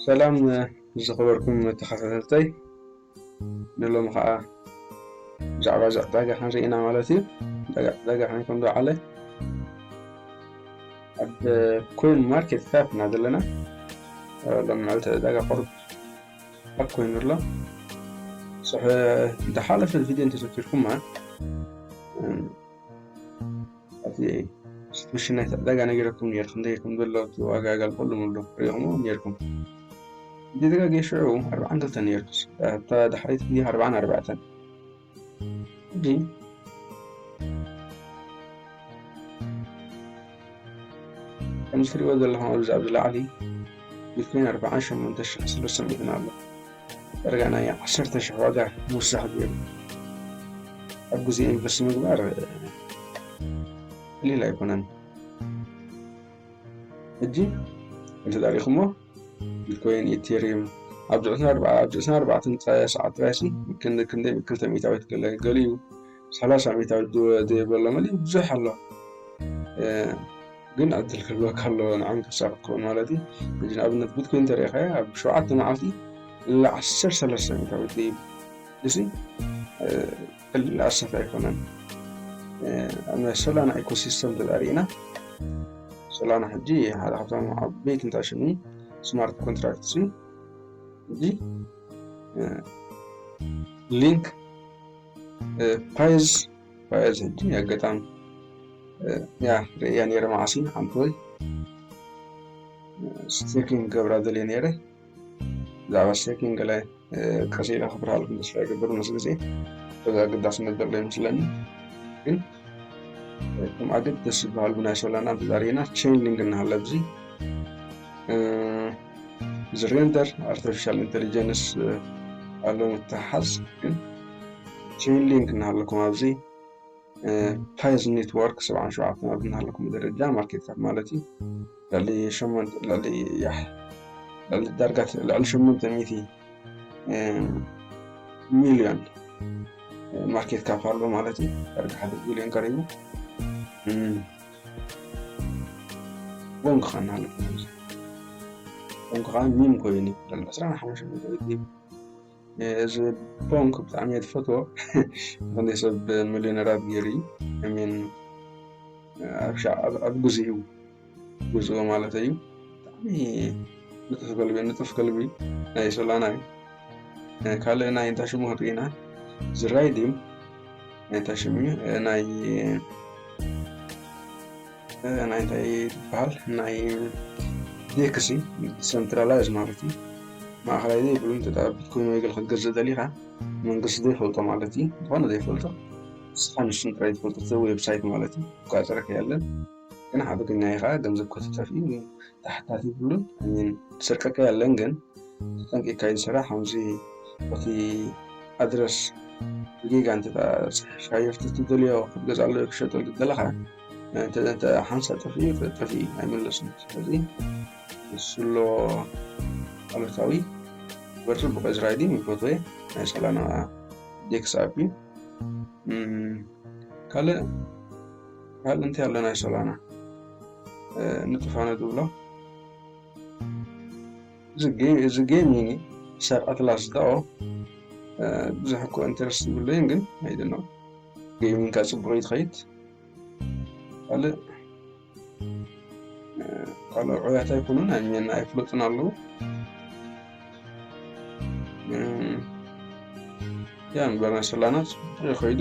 ሰላም ዝኸበርኩም ተኸታተልተይ ንሎሚ ከዓ ብዛዕባ እዚ ዕዳጋ ክንርኢ ኢና ማለት እዩ ዕዳጋ ከመይ ከም ዝወዓለ ኣብ ኮይን ማርኬት ካፕ ኢና ዘለና ሎሚ መዓልቲ ዕዳጋ ቁሩብ ኣብ ኮይኑ ኣሎ ዝሓለፈ ቪድዮ እንተዘኪርኩማ ኣብቲ ስትሽን ናይቲ ዕዳጋ ነጊረኩም ነይረ ክንደይ ከም ዘሎ እቲ ዋጋ ኣጋልቀሉም ኣሎ ርኢኹሞ ነይርኩም እንተ ተጋግየ ሽዑ ኣርብዓን ክልተን ነይሩስ ኣብታ ዳሕረይቲ ግዜ ኣርብዓን ኣርባዕተን ሕጂ ከምዚ ትሪእዎ ዘለኹም ኣብዚ ኣብዚ ላዕሊ ቢትኮይን ኣርብዓን ሸሞንተ ሽሕን ሰለስተ ሚእትን ኣሎ ዳርጋ ናይ ዓሰርተ ሽሕ ዋጋ ምውሳኽ ገይሩ ኣብ ግዜ ኢንቨስት ምግባር ቀሊል ኣይኮነን። ሕጂ እንተ ሪኢኹሞ ቢትኮይን ኢቴሪዩም ኣብ ዕስራን ኣርባዕተን ጥራይ ሰዓት ጥራይሲ ክንደይ ክልተ ሚእታዊት ገለ ገሊኡ ሰላሳ ዓመት ኣብ ዘይበሎ መሊ ብዙሕ ኣሎ ግን ዕድል ክህልወካ ኣለዎ ንዓም ተሳቅ ክትከውን ማለት እዩ እዚ ንኣብነት ቢትኮይን ተሪኢኻዮ ኣብ ሸውዓተ መዓልቲ ላ ዓሰርተ ሰለስተ ዓመት ኣብ ዘይብ እዚ ቀሊል ኣሰፍ ኣይኮነን ኣብ ሶላና ኢኮሲስተም ተጣሪእና ሶላና ሕጂ ሓደ ካብቶም ዓበይቲ ንታሽኒ ስማርት ኮንትራክት እዩ እዚ ሊንክ ፓየዝ ፓየዝ ሕጂ ኣጋጣሚ ያ ርእያ ነይረ መዓሲ ሓንቲ ወይ ስቴኪንግ ገብራ ደልየ ነይረ ብዛዕባ ስቴኪንግ ገለ ቀስ ኢለ ክብርሃልኩም ተስፋ ይገብር ምስ ግዜ በዚ ኣገዳስነት ዘሎ ይመስለኒ ግን እቶም ኣገደሲ ዝበሃሉ ናይ ሶላና ተዛሪና ቼንሊንግ እናሃለ ኣብዚ እዚ ሬንደር ኣርቲፊሻል ኢንቴሊጀንስ ኣሎ ምትሓዝ ግን ቼንሊንግ እናሃለኩም ኣብዚ ፓይዝ ኔትወርክ ሰብዓን ሸውዓተን ኣብ እናሃለኩም ደረጃ ማርኬትታት ማለት እዩ ልዕሊ ሸሞንተ ልዕሊ ልዕሊ ዳርጋ ልዕሊ ሸሞንተ ሚእቲ ሚሊዮን ማርኬት ካፕ ኣሎ ማለት እዩ ዕርዲ ሓደ ቢሊዮን ቀሪቡ ቦንክ ኸና ኣሎ ቦንክ ከዓ ሚም ኮይኑ ዘሎ ዕስራን ሓሙሽተ እዚ ቦንክ ብጣዕሚ እየ ትፈትዎ ክንደይ ሰብ ሚሊዮነራት ገይሩ እዩ ሚን ኣብ ግዜኡ ብፁዕ ማለት እዩ ብጣዕሚ ንፁህ ከልቢ ንፁፍ ከልቢ ናይ ሶላና እዩ ካልእ ናይ እንታይ ሽሙ ክጥይና ዝራይ ድዩ ናይ እንታይ ሽሙ እዩ ናይ ናይ እንታይ ይበሃል ናይ ዴክሲ ሰንትራላይዝ ማለት እዩ ማእኸላይ ዘይብሉ እንተጠብት ኮይኑ ወይገል ክትገዝእ ደሊኻ መንግስቲ ዘይፈልጦ ማለት እዩ ዝኾነ ዘይፈልጦ ንስኻ ንሱን ጥራይ ትፈልጦ ዌብሳይት ማለት እዩ ቋፀረክ ያለን ግን ዓቢ ግናይ ከኣ ገንዘብ ከተተርፍ እዩ ግን ተሓታቲ ይብሉን ኣሚን ትስርቀካ የለን ግን ተጠንቂካ እዩ ዝስራሕ ከምዚ እቲ ኣድረስ ብጌጋ እንተ ጽሒፍካ የፍቲ ትደልዮ ክትገዛሉ ክሸጠሉ ትደለኻ እንተ ሓንሳ ጠፍኡ ጠፍኡ ኣይምለስን ስለዚ ንስሎ ኣሉታዊ በርቱ ብቀዝ ራይዲንግ ይፈትወ ናይ ሰላና ዴክስ ኣቢ ካልእ ኣብ እንታይ ኣሎ ናይ ሶላና ንጥፋነ ዝብሎ እዚ ጌም ይኒ ክሳብ ኣትላስ ዳኦ ብዙሕ እኮ ኢንተረስት ዝብለይን ግን ኣይደኖ ጌሚንካ ፅቡቅ ይትኸይድ ካልእ ካልእ ዕውያት ኣይኮኑን ኣኘና ኣይፍለጡን ኣለዉ ያ ንበር ናይ ሶላና ፅቡቅ ይኸይዱ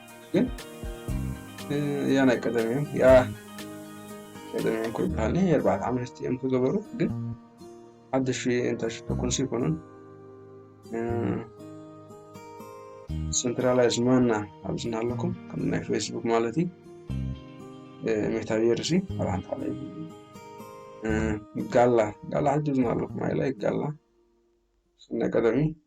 ግን ያ ናይ ቀደም እዮም ያ ቀደም እዮም ኮይ በሃሊ የርባዕተ ዓመት እዮም ክገበሩ ግን ሓደሽ እንታይ ሽቶ ኮንሲ ይኮኑን ሰንትራላይዝ ማና ኣብዚ ኣለኩም ከም ናይ ፌስቡክ ማለት እዩ ሜታቤርሲ ኣብ ሓንቲ ሓደ ጋላ ጋላ ሕጂ ዝና ኣለኩም ኣይላይ ጋላ ናይ ቀደም እዩ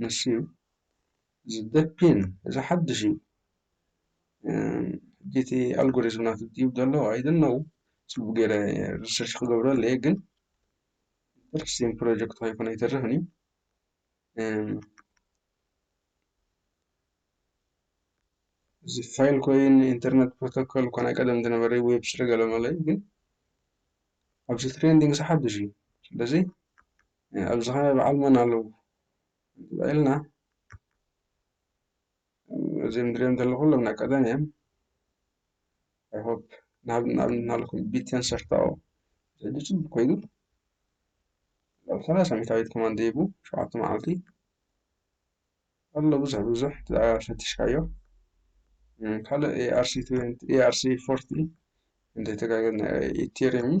ንሱዩ እዚ በፒን እዚ ሓድሽ እዩ ሕጂ እቲ ኣልጎሪዝም ናቱ ድዩብ ዘሎ ኣይ ዶንት ኖው ጽቡቅ ጌረ ሪሰርች ክገብሮ ኣለየ ግን ኢንተረስቲንግ ፕሮጀክት ኮይኑ ኣይተርፍን እዩ እዚ ፋይል ኮይን ኢንተርነት ፕሮቶኮል እኳ ናይ ቀደም ዝነበረ ዌብ ስለ ገለ ማለት እዩ ግን ኣብዚ ትሬንዲንግ እዚ ሓድሽ እዩ ስለዚ ኣብዚ ኸ በዓል መን ኣለዉ እንተባኢልና እዚም ድሪኦም ዘለኹ ኩሎም ናይ ቀደም እዮም ኣይሆፕ ናብ ናብ ናልኩም ቢቴን ሰርታኦ ዘዲ ጽቡቅ ኮይኑ ኣብ ሰላሳ ሚታዊት ኮማንድ ሂቡ ሸውዓተ መዓልቲ ኣሎ ብዙሕ ብዙሕ ፈትሽካዮ ካልእ ኤኣርሲ ኤኣርሲ ፎርቲ እንተይተጋገ ኢቴሪም እዩ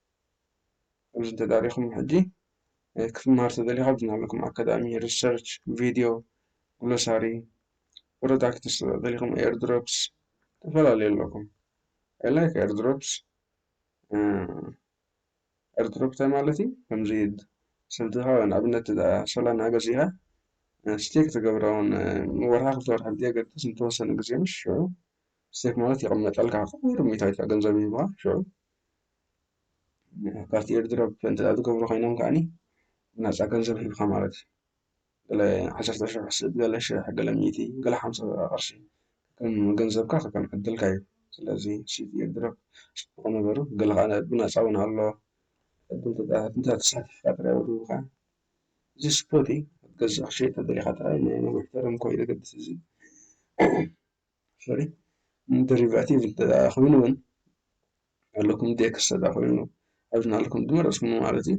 ኣብዚ እንተ ኣቲኹም ሕጂ ክትመሃር እንተ ደሊኻ ኣብዚ ናይባኹም ኣካዳሚ ሪሰርች ቪድዮ ግሎሳሪ ፕሮዳክትስ እንተ ደሊኹም ኤርድሮፕስ ተፈላለዩ ኣለኩም ኣይ ላይክ ኤርድሮፕስ ኤርድሮፕ እንታይ ማለት እዩ ከምዚ ስልትኻ ወይ ንኣብነት ሶላና ገዚእኻ ስቴክ ትገብሮን ወርሓ ክልተ ወርሓ ብዘየገድስ ንተወሰነ ግዜ ምስ ሽዑ ስቴክ ማለት ይቕመጠልካ ቁሩብ ሚእታዊት ገንዘብ ይህቡኻ ሽዑ ካፍቲ ኤርድሮፕ እንተ ዝገብሩ ኮይኖም ከዓኒ ናፃ ገንዘብ ሂብካ ማለት እዩ። ገለ ዓሰርተ ሽሕ ስብ ገለ ሽሕ ገለ ሚእቲ ገለ ሓምሳ ቅርሺ ከም ገንዘብካ ከም ዕድልካ እዩ። ስለዚ ስብ ኤርድሮፕ ፅቡቅ ነገር እዩ። ገለ ከኣ ብናፃ እውን ኣሎ። ዕድል እንተ ተሳቲፍካ ጥራይ እውን ይህቡኻ። እዚ ስፖት እዩ ክትገዝእ ክትሸይጥ እንተ ደሊኻ ጥራይ ናይ ነዊሕ ተርም ኮይኑ ዘገድስ እዚ። ሶሪ ደሪቫቲቭ እንተኮይኑ እውን ኣለኩም ዴክስ ተኮይኑ ኣብዚ ናልኩም ዝመረፅኩሞ ማለት እዩ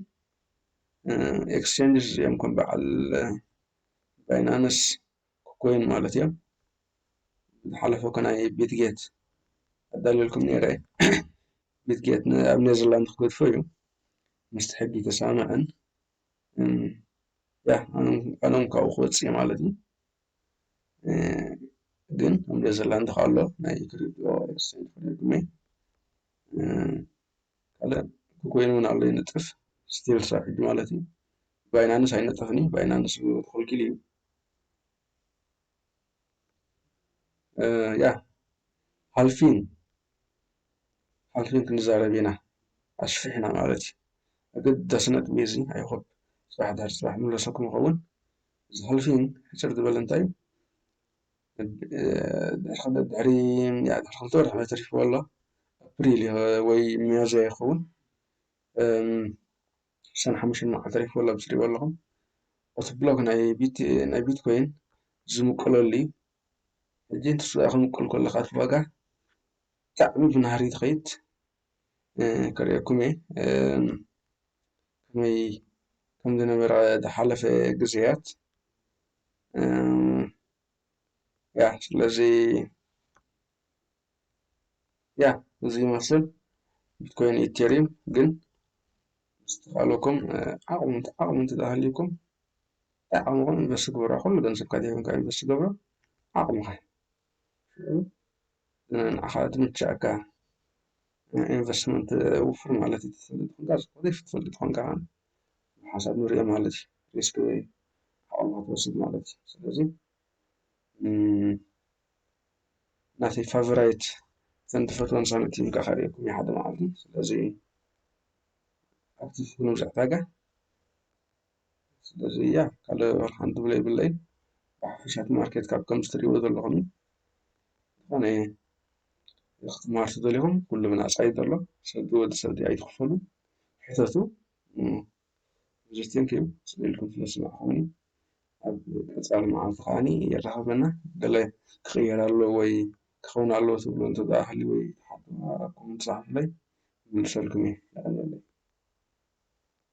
ኤክስቼንጅስ እዮም ከም በዓል ባይናንስ ኮይን ማለት እዮም ዝሓለፈ እኮ ናይ ቤትጌት ኣዳልየልኩም ነይረ ቤትጌት ኣብ ኔዘርላንድ ክገድፎ እዩ ምስቲ ሕጊ ተስማምዐን ያ ኣነም ካብኡ ክወፅእ ማለት እዩ ግን እንዶ ዘላ እንተ ኸሎ ናይ ክሪቶ ኤክስቸንጅ ተጠቂመ ካልእ ኮይን እውን ኣሎ ይንጥፍ ስቲል ክሳብ ሕጂ ማለት እዩ ባይናንስ ኣይነጥፍን እዩ ባይናንስ ክልኪል እዩ ያ ሓልፊን ሓልፊን ክንዛረብ ኢና ኣሽፊሕና ማለት እዩ ኣገዳሲ ነጥቢ እዚ ኣይሆፕ ስራሕ ድሕሪ ስራሕ ንመለሰኩም ይኸውን እዚ ሕልፊ ሕጽር ዝበለ እንታይ ድሕሪ ክልተ ወርሒ ማይ ተሪፍዎ ኣሎ ኣፕሪል ወይ ሚያዝያ ይኸውን ዓሰርተ ሓሙሽተ መዓልቲ ተሪፍዎ ኣሎ ኣብዚ ትሪእዎ ኣለኹም እቲ ብሎክ ናይ ቢትኮይን ዝምቅለሉ እዩ ሕጂ ንሱ ክምቅል ከሎ እቲ ዋጋ ብጣዕሚ ብናህሪ ትኸይድ። ከርእየኩም እየ ከመይ ከም ዝነበረ ዝሓለፈ ግዜያት ያ ስለዚ ያ እዚ ይመስል ቢትኮይን ኢቴሪየም ግን ዝተባለኩም ዓቕሚ ዓቕሚ እንተዝሃልዩኩም ዓቕምኹም ኢንቨስት ግበሩ ኩሉ ገንዘብካ ዘይኮንካ ኢንቨስት ትገብሮ ዓቕምኻ እዩ። ሽዑ ንዓኻ ዝምችኣካ ናይ ኢንቨስትመንት ውፍር ማለት እዩ ትፈልጥ ኮንካ ዝኾነ ይፍትፈልጥ ኮንካ ኸዓ ብሓሳብ ንሪኦ ማለት እዩ ሪስክ ዓቕምኻ ትወስድ ማለት እዩ ስለዚ ናተይ ፋቨራይት እተን ትፈትወን ሳንቲም ካዓ ከሪኤኩም እየ ሓደ መዓልቲ ስለዚ ኣብቲ ፍኑው ዕዳጋ ስለዚ እያ ካልእ ሓንቲ ትብሎ የብለይ ብሓፈሻ እቲ ማርኬት ካብ ከም ዝትሪእዎ ዘለኹም እዩ ዝኾነ ክትመሃሩ ተደሊኹም ኩሉ ብናፃ እዩ ዘሎ ሰብ ወዲ ሰብ ድኣ ኣይትኽፈሉ ሕተቱ ብዙሕ ቴንኪዩ ስለ ኢልኩም ስለ ዝስማዕኹምኒ ኣብ ቀፃሊ መዓልቲ ከዓኒ የራኽበና ገለ ክቕየር ኣለዎ ወይ ክኸውን ኣለዎ ትብሎ እንተ ደኣ ሃልዩ ወይ ሓሳብኩም ፃሓፉለይ ክምልሰልኩም እየ የቐንየለይ